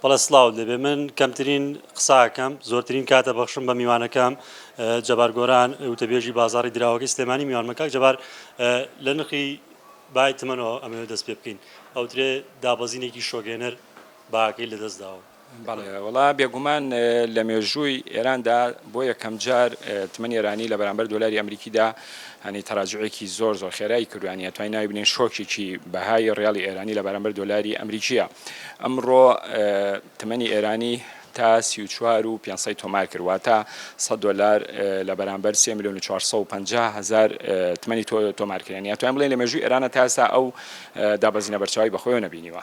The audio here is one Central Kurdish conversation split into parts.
بەڵێ سڵاوت لێبێ من کەمترین قساکەم زۆرترین کاتە بەخشم بە میوانەکەم جەبار گۆران وتەبێژی بازاری دراوەکەی سلێمانی میوان مەکاک جەبار لە نرخی بای تمەنەوە ئەمەوێت دەست پێ بکەین ئەوترێ دابەزینێکی شۆگێنەر باکەی لە دەست داوە وڵا بێگومان لە مێژووی ئێراندا بۆ یەکەم جار تمەنی ئێرانی لە بەرامبەر دۆلاری ئەمریکیدا هەنی تەراجوعێکی زۆر زۆر خێرای کردو یانی ئەتوانی ناوی بنێین شۆکێکی بەهای ڕیاڵی ئێرانی لە بەرامبەر دۆلاری ئەمریکیە ئەمڕۆ تمەنی ئێرانی تا 34 و 500 تۆمار کرد واتە 100 دۆلار لە بەرامبەر 3 میلیۆن و 450 هزار تمەنی تۆمار کرد یانی ئەتوانین بڵێین لە مێژووی ئێرانە تا ئێستا ئەو دابەزینە بەرچاوی بەخۆیەوە نەبینیوە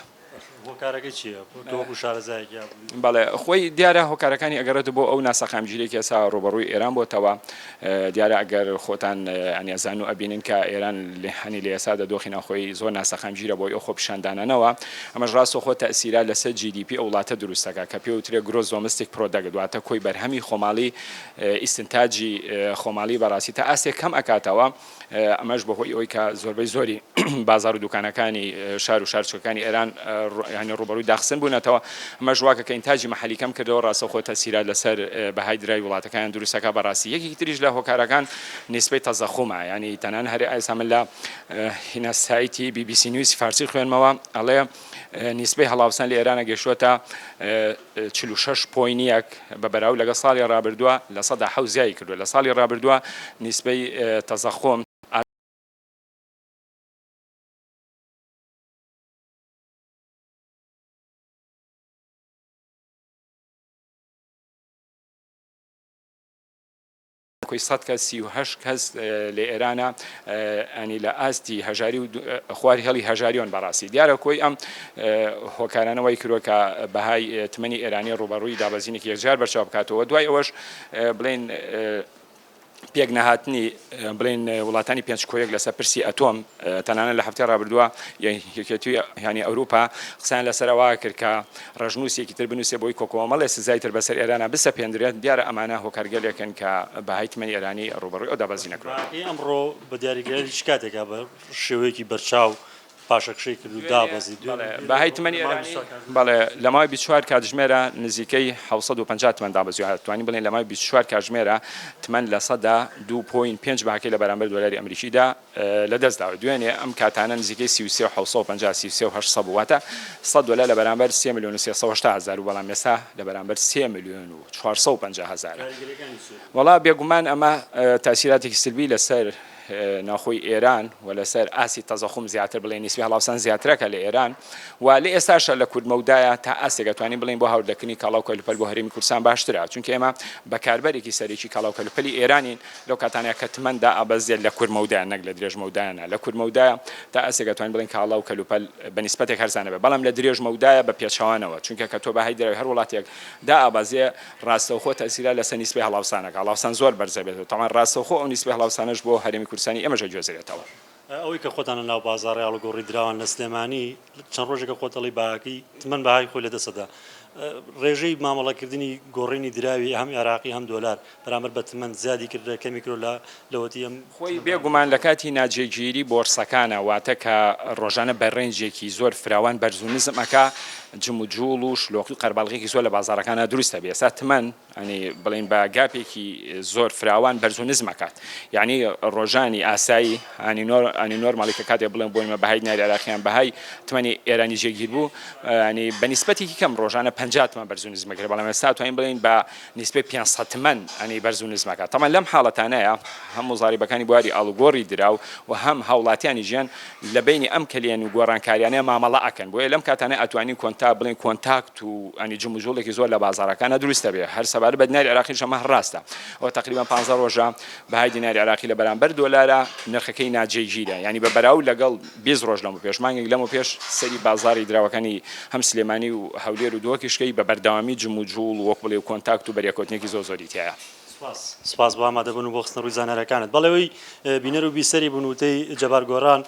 هۆکارەکەی چیە تۆ وەکو شارەزایەک یا بووی؟ بەڵێ خۆی دیارە هۆکارەکانی ئەگەڕێتەوە بۆ ئەو ناسەقامگیریەی کە ئێستا ڕووبەڕووی ئێران بۆتەوە دیارە ئەگەر خۆتان یانی ئەزانن و ئەبینن کە ئێران هەنی لە ئێستادا دۆخی ناوخۆی زۆر ناسەقامگیرە بۆی ئەو خۆپیشاندانانەوە ئەمەش ڕاستەوخۆ تەئسیرات لەسەر جی دی پی ئەو وڵاتە دروست دەکات کە پێوترێ گرۆس دۆمستیک پرۆدەکت واتە کۆی بەرهەمی خۆماڵی ئیستنتاجی خۆماڵی بەڕاستی تا ئاستێک کەم ئەکاتەوە. ئەمەش بەهۆی ئەوەی کە زۆربەی زۆری بازار و دوکانەکانی شار و شارچکەکانی ئێران هەنێ ڕوبەروی داخستن بوونەتەوە ئەمەش واکە کە ئینتاجی محلی کەم کردەوە ڕاستەخۆ تەسیرات لەسەر بەهای درای وڵاتەکەیان دروستەکە بەڕاستی یەکێکی تریش لە هۆکارەکان نیسبەی تەزەخومە ینی تەنان هەرێ ئایسا من لە هینە سایتی بی بی سی نیوز فارسی خوێنمەوە ئەڵێ نیسبەی هەڵاوسان لە ئێرانە گەشتوەتە چل و شەش پۆینت یەک بە بەراو لەگەڵ ساڵی ڕابردووە لە سەدا حەوت زیای کردووە لە ساڵی ڕابردووە نیسبەی تەزەخۆم، کۆی سەد کەس سی و هەشت کەس لە ئێرانە ئەنی لە ئاستی هەژاری و خواری هێڵی هەژاریۆن بەڕاستی دیارە کۆی ئەم هۆکارانەوەی کرۆکە بەهای تمەنی ئێرانی ڕوبەڕووی دابەزینێکی یەکجار بەرچاو بکاتەوە دوای ئەوەش بڵین پێک نەهاتنی بڵین وڵاتانی پێنج کۆیەک لەسەر پرسی ئەتۆم تەنانەت لە هەفتەی ڕابردووە یەکێتیی ئەوروپا قسەیان لەسەر ئەوە کرد کە ڕەشنووسێکی تر بنووسێت بۆی کۆکۆمەڵێ سزای تر بەسەر ئێرانا بسەپێندرێت، دیارە ئەمانە هۆکارگەلێکن کە بەهای تمەنی ئێرانی ڕووبەڕووی ئەو دابەزینە کردووە. بەڕای ئەمڕۆ بە دیاریکراویش کاتێکە بە شێوەیەکی بەرچاو پاشەکشەی کرد و دابەزی بەهای تمەنی ئێرانی. بەڵێ لە ماوەی بیست و چوار کاتژمێرا نزیکەی حەوت سەد و پەنجا تمەن دابەزیوە، دەتوانین بڵێین لە ماوەی بیست و چوار کاتژمێرا تمەن لە سەدا دوو پۆینت پێنج بەهاکەی لە بەرامبەر دۆلاری ئەمریکیدا لە دەست داوە دوێنێ ئەم کاتانە نزیکەی سی و سێ و حەوت سەد و پەنجا سی و سێ و هەشت سەد بوو واتە سەد دۆلار لە بەرامبەر سێ ملیۆن و سێ سەد و هەشتا هەزار و بەڵام ئێستا لە بەرامبەر سێ ملیۆن و چوار سەد و پەنجا هەزارە کاریگەریەکانی چیە؟ وەڵا بێگومان ئەمە تاسیراتێکی سلبی لەسەر ناوخۆی ئێران و لەسەر ئاسی تەزەخوم زیاتر بڵێ نیسبی هەڵاوسان زیاترەکە لە ئێران و لە ئێستاشە لە کورد مەودایە تا ئاستێک دەتوانین بڵین بۆ هاوردەکردنی کاڵا و کەلوپەل بۆ هەرێمی کوردستان باشترە چونکە ئێمە بەکاربەرێکی سەرەکی کاڵا و کەلوپەلی ئێرانین لەو کاتانەیە کە تمەن دائەبەزێت لە کورت مەودایە نەک لە درێژ مەودایە نا لە کورت مەودایە تا ئاستێک ئەتوانین بڵێین کاڵا و کەلوپەل بە نیسبەتێک هەرزانە بێت بەڵام لە درێژ مەودایە بە پێچەوانەوە چونکە کە تۆ بەهای دراوی هەر وڵاتێک دائەبەزێ ڕاستەوخۆ تەئسیرە لەسەر نیسبەی هەڵاوسانەکە هەڵاوسان زۆر بەرزەبێت و تەمان ڕاستەوخۆ ئەو نیسبەی هەڵاوسانەش بۆ هەرێمی کوردستانی ئێمەش ئەگوێزرێتەوە. ئەوەی کە خۆتان لە ناو بازاڕی ئاڵوگۆڕی دراوان لە سلێمانی چەند ڕۆژێکە خۆت دەڵی باکی تمەن بەهای خۆی لە دەسەدا ڕێژەی مامەڵەکردنی گۆڕینی دراوی هەم عێراقی هەم دۆلار بەرامبەر بە تمەن زیادی کردە کەمی کرۆ لە لەوەتی ئەم خۆی بێگومان لە کاتی ناجێگیری بۆرسەکانە واتە کە ڕۆژانە بە رێنجێکی زۆر فراوان بەرز و نزم ئەکا جموجوڵ و شلۆقی و قەرباڵغیەکی زۆر لە بازاڕەکانا دروست ئەبێ ئێستا تمەن یانی بڵێین بە گاپێکی زۆر فراوان بەرز و نزم ئەکات یانی ڕۆژانی ئاسایی ئانی نۆر ئانی نۆرماڵی کە کاتێ بڵێن بۆی مە بەهای ناری عراقیان بەهای تمەنی ئێرانی جێگیر بوو ینی بە نیسبەتێکی کەم ڕۆژانە پ تمەن بەرز و نزمەکرێ بەڵام ئێستا توانین بڵێین بە نیسبەی 500 تمەن ئەنی بەرز و نزمەکە تەمان لەم حاڵەتانەیە هەم موزاریبەکانی بواری ئاڵوگۆڕی دراو و هەم هاوڵاتیانی ژیان لە بەینی ئەم کەلێن و گۆڕانکاریانەیا مامەڵە ئەکەن بۆیە لەم کاتانە ئەتوانین کۆنتا بڵێین کۆنتاکت و ینی جموجوڵێکی زۆر لە بازاڕەکانا دروست ئەبێ هەر سەبارەت بە دیناری عێراقیش ئەمە هەر ڕاستە ئەوە تەقریبەن پانزە ڕۆژە بەهای دیناری عێراقی لە بەرامبەر دۆلارا نرخەکەی ناجێگیرە یانی بە بەراو لەگەڵ بیست ڕۆژ لەمە پێش مانگێک لەمە پێش سەری بازاڕی دراوەکانی هەم سلێمانی و هەولێر و دهۆکیش کەی بە بەردەوامی جموجوڵ و وەک بڵێ کۆنتاکت و بەریەکەوتنێکی زۆر زۆری تیایە. سپاس سپاس بۆ ئامادەبوون و بۆ خستنەڕووی زانیاریەکانت. بەڵێ ئەوەی بینەر و بیسەری بوون وتەی جەبار گۆران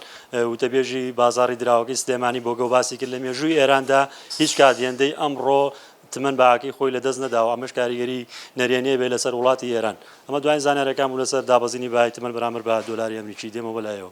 وتەبێژی بازاڕی دراوەکەی سلێمانی بۆگەو باسی کرد لە مێژووی ئێراندا هیچ کات هێندەی ئەمڕۆ تمەن بەهاکەی خۆی لەدەست نەداوە ئەمەش کاریگەری نەرێنیە بێ لەسەر وڵاتی ئێران ئەمە دواین زانیارەکان بوو لەسەر دابەزینی بەهای تمەن بەرامبەر بە دۆلاری ئەمریکی دێمە بەلایەوە.